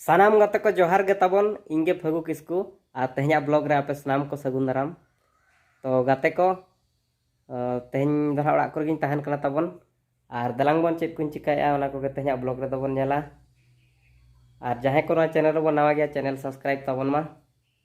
ᱥᱟᱱᱟᱢ ᱜᱟᱛᱮ ᱠᱚ ᱡᱚᱦᱟᱨ ᱜᱮ ᱛᱟᱵᱚᱱ ᱤᱧ ᱜᱮ ᱯᱷᱟᱹᱜᱩ ᱠᱤᱥᱠᱩ ᱟᱨ ᱛᱮᱦᱮᱧᱟᱜ ᱵᱞᱚᱜ ᱨᱮ ᱟᱯᱮ ᱥᱟᱱᱟᱢ ᱠᱚ ᱥᱟᱹᱜᱩᱱ ᱫᱟᱨᱟᱢ ᱛᱚ ᱜᱟᱛᱮ ᱠᱚ ᱛᱮᱦᱮᱧ ᱫᱚ ᱦᱟᱸᱜ ᱚᱲᱟᱜ ᱠᱚᱨᱮ ᱜᱤᱧ ᱛᱟᱦᱮᱱ ᱠᱟᱱᱟ ᱛᱟᱵᱚᱱ ᱟᱨ ᱫᱟᱞᱟᱝ ᱵᱚᱱ ᱪᱮᱫ ᱠᱚᱧ ᱪᱤᱠᱟᱹᱭᱮᱫᱼᱟ ᱚᱱᱟ ᱠᱚᱜᱮ ᱛᱮᱦᱮᱧᱟᱜ ᱵᱞᱚᱜ ᱨᱮᱫᱚ ᱵᱚᱱ ᱧᱮᱞᱟ ᱟᱨ ᱡᱟᱦᱟᱸᱭ ᱠᱚ ᱱᱚᱣᱟ ᱪᱮᱱᱮᱞ ᱨᱮᱵᱚᱱ ᱱᱟᱣᱟ ᱜᱮᱭᱟ ᱪᱮᱱᱮᱞ ᱥᱟᱵᱥᱠᱨᱟᱭᱤᱵ ᱛᱟᱵᱚᱱ ᱢᱟ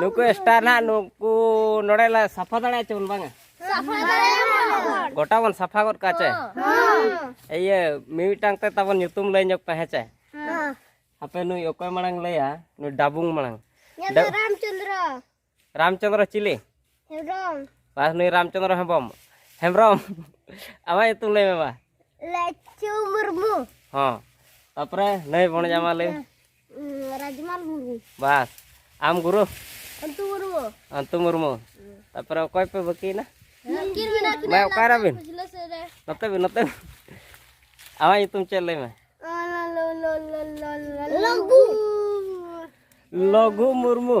ᱱᱩᱠᱩ ᱥᱴᱟᱨ ᱱᱟᱦᱟᱜ ᱱᱩᱠᱩ ᱱᱚᱰᱮ ᱞᱮ ᱥᱟᱯᱷᱟ ᱫᱟᱲᱮᱭᱟ ᱪᱮ ᱵᱚᱱ ᱵᱟᱝᱟ ᱜᱚᱴᱟ ᱵᱚᱱ ᱥᱟᱯᱷᱟ ᱜᱚᱫ ᱠᱟᱜ ᱪᱮ ᱤᱭᱟᱹ ᱢᱤᱢᱤᱫᱴᱟᱝ ᱛᱮ ᱛᱟᱵᱚᱱ ᱧᱩᱛᱩᱢ ᱞᱟᱹᱭ ᱧᱚᱜ ᱯᱮ ᱦᱮᱸ ᱪᱮ ᱦᱟᱯᱮ ᱱᱩᱭ ᱚᱠᱚᱭ ᱢᱟᱲᱟᱝ ᱞᱟᱹᱭᱟ ᱱᱩᱭ ᱰᱟᱵᱩᱝ ᱢᱟᱲᱟᱝ ᱨᱟᱢᱪᱚᱱᱫᱨᱚ ᱨᱟᱢᱪᱚᱱᱫᱨᱚ ᱪᱤᱞᱤ ᱦᱮᱢᱵᱨᱚᱢ ᱵᱟᱥ ᱱᱩᱭ ᱨᱟᱢᱪᱚᱱᱫᱨᱚ ᱦᱮᱢᱵᱨᱚᱢ ᱦᱮᱢᱵᱨᱚᱢ ᱟᱢᱟᱜ ᱧᱩᱛᱩᱢ ᱞᱟᱹᱭ ᱢᱮ ᱵᱟ ᱞᱟᱪᱩ ᱢᱩᱨᱢᱩ ᱦᱚᱸ ᱛᱟᱯᱚᱨᱮ ᱱᱟᱹᱭ ᱵᱚᱱᱡ ᱟᱢᱟᱜ ᱞᱟᱹᱭ ᱨᱟᱡᱽᱢᱟᱞ ᱢᱩᱨᱢᱩ ᱵᱟᱥ ᱟᱢ ᱜᱩᱨᱩ ᱟᱱᱛᱩ ᱢᱩᱨᱢᱩ ᱟᱱᱛᱩ ᱢᱩᱨᱢᱩ ᱛᱟᱯᱚᱨᱮ ᱚᱠᱚᱭ ᱯᱮ ᱵᱟᱹᱠᱤᱭᱮᱱᱟ ᱢᱟ ᱚᱠᱟᱨᱮ ᱵᱤᱱ ᱱᱚᱛᱮ ᱵᱤᱱ ᱱᱚᱛᱮ ᱵᱤᱱ ᱟᱢᱟᱜ ᱧᱩᱛᱩᱢ ᱪᱮᱫ ᱞᱟᱹᱭ ᱢᱮ ᱞᱚᱜᱩ ᱞᱚᱜᱩ ᱢᱩᱨᱢᱩ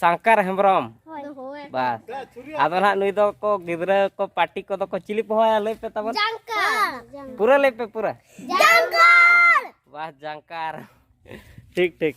ᱥᱟᱝᱠᱟᱨ ᱦᱮᱢᱵᱨᱚᱢ ᱵᱟᱥ ᱟᱫᱚ ᱱᱟᱦᱟᱜ ᱱᱩᱭ ᱫᱚ ᱠᱚ ᱜᱤᱫᱽᱨᱟᱹ ᱠᱚ ᱯᱟᱴᱤ ᱠᱚᱫᱚ ᱠᱚ ᱪᱤᱞᱤ ᱯᱮ ᱦᱚᱦᱚᱭᱟ ᱞᱟᱹᱭ ᱯᱮ ᱛᱟᱵᱚᱱ ᱯᱩᱨᱟᱹ ᱞᱟᱹᱭ ᱯᱮ ᱯᱩᱨᱟᱹ ᱵᱟᱥ ᱡᱟᱝᱠᱟᱨ ᱴᱷᱤᱠ ᱴᱷᱤᱠ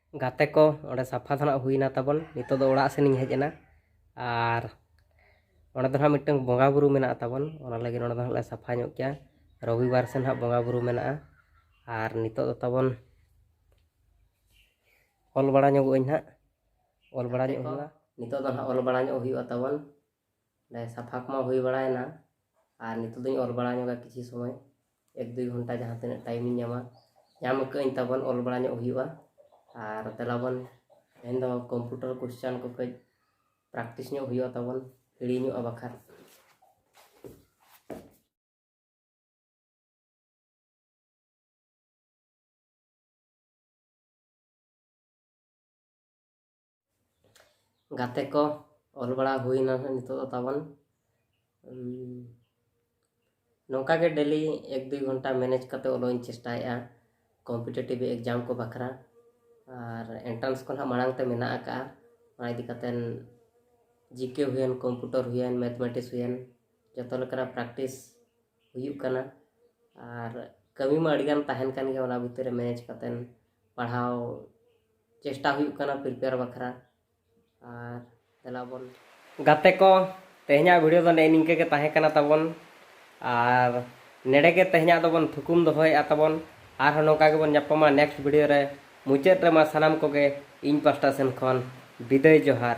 ᱜᱟᱛᱮ ᱠᱚ ᱚᱸᱰᱮ ᱥᱟᱯᱷᱟ ᱫᱚ ᱱᱟᱦᱟᱜ ᱦᱩᱭᱱᱟ ᱛᱟᱵᱚᱱ ᱱᱤᱛᱚᱜ ᱫᱚ ᱚᱲᱟᱜ ᱥᱮᱱᱤᱧ ᱦᱮᱡ ᱮᱱᱟ ᱟᱨ ᱚᱸᱰᱮ ᱫᱚ ᱱᱟᱦᱟᱜ ᱢᱤᱫᱴᱟᱝ ᱵᱚᱸᱜᱟ ᱵᱩᱨᱩ ᱢᱮᱱᱟᱜ ᱛᱟᱵᱚᱱ ᱚᱱᱟ ᱞᱟᱹᱜᱤᱫ ᱚᱸᱰᱮ ᱫᱚ ᱱᱟᱦᱟᱜ ᱞᱮ ᱥᱟᱯᱷᱟ ᱧᱚᱜ ᱠᱮᱭᱟ ᱨᱚᱵᱤᱵᱟᱨ ᱥᱮ ᱱᱟᱦᱟᱜ ᱵᱚᱸᱜᱟ ᱵᱩᱨᱩ ᱢᱮᱱᱟᱜᱼᱟ ᱟᱨ ᱱᱤᱛᱚᱜ ᱫᱚ ᱛᱟᱵᱚᱱ ᱚᱞ ᱵᱟᱲᱟ ᱧᱚᱜᱚᱜ ᱟᱹᱧ ᱱᱟᱦᱟᱜ ᱚᱞ ᱵᱟᱲᱟ ᱧᱚᱜ ᱦᱩᱭᱩᱜᱼᱟ ᱱᱤᱛᱚᱜ ᱫᱚ ᱱᱟᱦᱟᱜ ᱚᱞ ᱵᱟᱲᱟ ᱧᱚᱜ ᱦᱩᱭᱩᱜᱼᱟ ᱛᱟᱵᱚᱱ ᱱᱚᱰᱮ ᱥᱟᱯᱷᱟ ᱠᱚᱢᱟ ᱦᱩᱭ ᱵᱟᱲᱟᱭᱮᱱᱟ ᱟᱨ ᱱᱤᱛᱚᱜ ᱫᱚᱧ ᱚᱞ ᱵᱟᱲᱟ ᱧᱚᱜᱟ ᱠᱤᱪᱷᱩ ᱥᱚᱢᱚᱭ ᱮᱠ ᱫᱩᱭ ᱜᱷᱚᱱᱴᱟ ᱡᱟᱦᱟᱸ ᱛᱤᱱᱟᱹᱜ ᱴᱟᱭᱤᱢᱤᱧ ᱧᱟᱢᱟ ᱧᱟᱢ ᱟᱹᱠᱟᱹᱜᱼᱟᱹᱧ ᱛᱟᱵᱚᱱ ᱚᱞ ᱵᱟᱲᱟ ᱧᱚᱜ ᱦᱩᱭᱩᱜᱼᱟ ᱟᱨ ᱫᱮᱞᱟ ᱵᱚᱱ ᱛᱮᱦᱮᱧ ᱫᱚ ᱠᱚᱢᱯᱩᱴᱟᱨ ᱠᱚᱥᱪᱟᱱ ᱠᱚ ᱠᱟᱹᱡ ᱯᱨᱮᱠᱴᱤᱥ ᱧᱚᱜ ᱦᱩᱭᱩᱜᱼᱟ ᱛᱟᱵᱚᱱ ᱦᱤᱲᱤᱧᱚᱜᱼᱟ ᱵᱟᱠᱷᱟᱱ ᱜᱟᱛᱮ ᱠᱚ ᱚᱞ ᱵᱟᱲᱟ ᱦᱩᱭᱱᱟ ᱱᱤᱛᱚᱜ ᱫᱚ ᱛᱟᱵᱚᱱ ᱱᱚᱝᱠᱟ ᱜᱮ ᱰᱮᱞᱤ ᱮᱠ ᱫᱩᱭ ᱜᱷᱚᱱᱴᱟ ᱢᱮᱱᱮᱡᱽ ᱠᱟᱛᱮ ᱚᱞᱚᱜ ᱤᱧ ᱪᱮᱥᱴᱟᱭᱮᱫᱼᱟ ᱠᱚᱢᱯᱤᱴᱮᱴᱤᱵᱷ ᱮᱠᱡᱟᱢ ᱠᱚ ᱵᱟᱠᱷᱨᱟ ᱟᱨ ᱮᱱᱴᱨᱟᱱᱥ ᱠᱚ ᱱᱟᱦᱟᱜ ᱢᱟᱲᱟᱝ ᱛᱮ ᱢᱮᱱᱟᱜ ᱟᱠᱟᱫᱼᱟ ᱚᱱᱟ ᱤᱫᱤ ᱠᱟᱛᱮ ᱡᱤᱠᱮ ᱦᱩᱭᱮᱱ ᱠᱚᱢᱯᱤᱭᱩᱴᱟᱨ ᱦᱩᱭᱮᱱ ᱢᱮᱛᱷᱢᱮᱴᱤᱠᱥ ᱦᱩᱭᱮᱱ ᱡᱚᱛᱚ ᱞᱮᱠᱟᱱᱟᱜ ᱯᱨᱮᱠᱴᱤᱥ ᱦᱩᱭᱩᱜ ᱠᱟᱱᱟ ᱟᱨ ᱠᱟᱹᱢᱤ ᱢᱟ ᱟᱹᱰᱤᱜᱟᱱ ᱛᱟᱦᱮᱱ ᱠᱟᱱ ᱜᱮᱭᱟ ᱚᱱᱟ ᱵᱷᱤᱛᱤᱨ ᱨᱮ ᱢᱮᱱᱮᱡᱽ ᱠᱟᱛᱮᱫ ᱯᱟᱲᱦᱟᱣ ᱪᱮᱥᱴᱟ ᱦᱩᱭᱩᱜ ᱠᱟᱱᱟ ᱯᱨᱤᱯᱮᱭᱟᱨ ᱵᱟᱠᱷᱨᱟ ᱟᱨ ᱫᱮᱞᱟ ᱵᱚᱱ ᱜᱟᱛᱮ ᱠᱚ ᱛᱮᱦᱮᱧᱟᱜ ᱵᱷᱤᱰᱤᱭᱳ ᱫᱚ ᱱᱮᱜᱼᱮ ᱱᱤᱝᱠᱟᱹ ᱜᱮ ᱛᱟᱦᱮᱸ ᱠᱟᱱᱟ ᱛᱟᱵᱚᱱ ᱟᱨ ᱱᱮᱰᱮ ᱜᱮ ᱛᱮᱦᱮᱧᱟᱜ ᱫᱚᱵᱚᱱ ᱛᱷᱩᱠᱩᱢ ᱫᱚᱦᱚᱭᱮᱫᱼᱟ ᱛᱟᱵᱚᱱ ᱟᱨᱦᱚᱸ ᱱᱚᱝᱠᱟ ᱜᱮᱵᱚᱱ ᱧᱟᱯᱟᱢᱟ ᱱᱮᱠᱥᱴ ᱵᱷᱤᱰᱤᱭᱳ ᱨᱮ ᱢᱩᱪᱟᱹᱫ ᱨᱮ ᱢᱟ ᱥᱟᱱᱟᱢ ᱠᱚᱜᱮ ᱤᱧ ᱯᱟᱥᱴᱟ ᱥᱮᱱ ᱠᱷᱚᱱ ᱵᱤᱫᱟᱹᱭ ᱡᱚᱦᱟᱨ